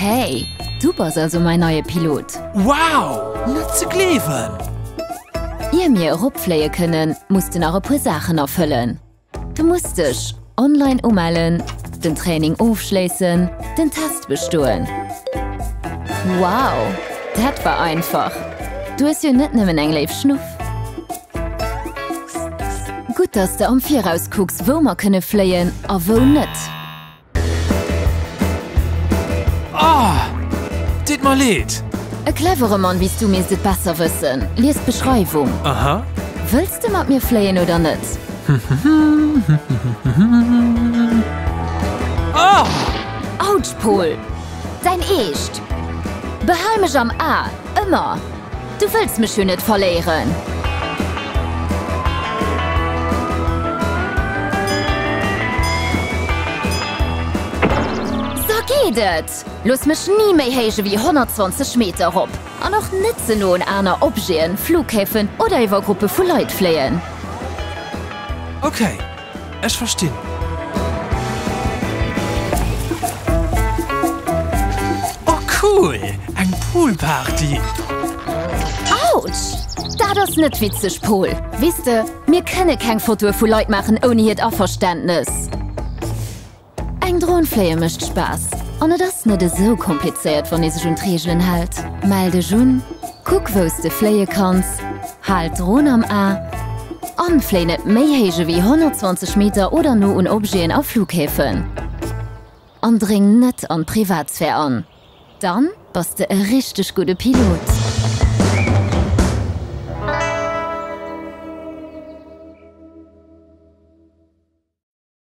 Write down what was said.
Hey, du bass also mäin neie Pilot! Wow! Net ze gleewen! Ier mir eropfléie kënnen, muss de nach e puer Saachen erfëllen. Du muss dech online umellen, den Training ofschléissen, den Test bestoen. Wow, dat war einfach! Du hues jo net nëmmen eng léif Schnuff. Gutt, dass de am Viraus kucks, wou mer kënne fléien a wou net. Oh! Deet mer leed! E clevere Mann wéi s du misst et besser wëssen. Lies d'Beschreiwung. Aha. Wëlls de mat mir fléien oder net? Oh! Autsch, Pol! Däin Eescht! Behal mech am A, ëmmer! Du wëlls mech jo net verléieren. Sa geet et! Looss mech ni méi héich ewéi 120 Meter erop an och net ze no un aner Objeten, Flughäfen oder iwwer Gruppe vu Leit fléien. Okay. Ech verstinn. Oh cool, eng Poolparty! Autsch! Dat ass net witzeg, Paul. Weess de, mir kënne keng Fotoe vu Leit maachen ouni hiert Averständnes. Eng Dron fléie mécht Spaass an et ass net esou komplizéiert wann ee sech un d'Reegelen hält. Mell dech un, kuck wou s de fléie kanns, hal d'Dron am A an fléi net méi héich ewéi 120 Meter oder no un Objeten a Flughäfen. An dréng net an d'Privatsphär an, dann bass de e richteg gudde Pilot.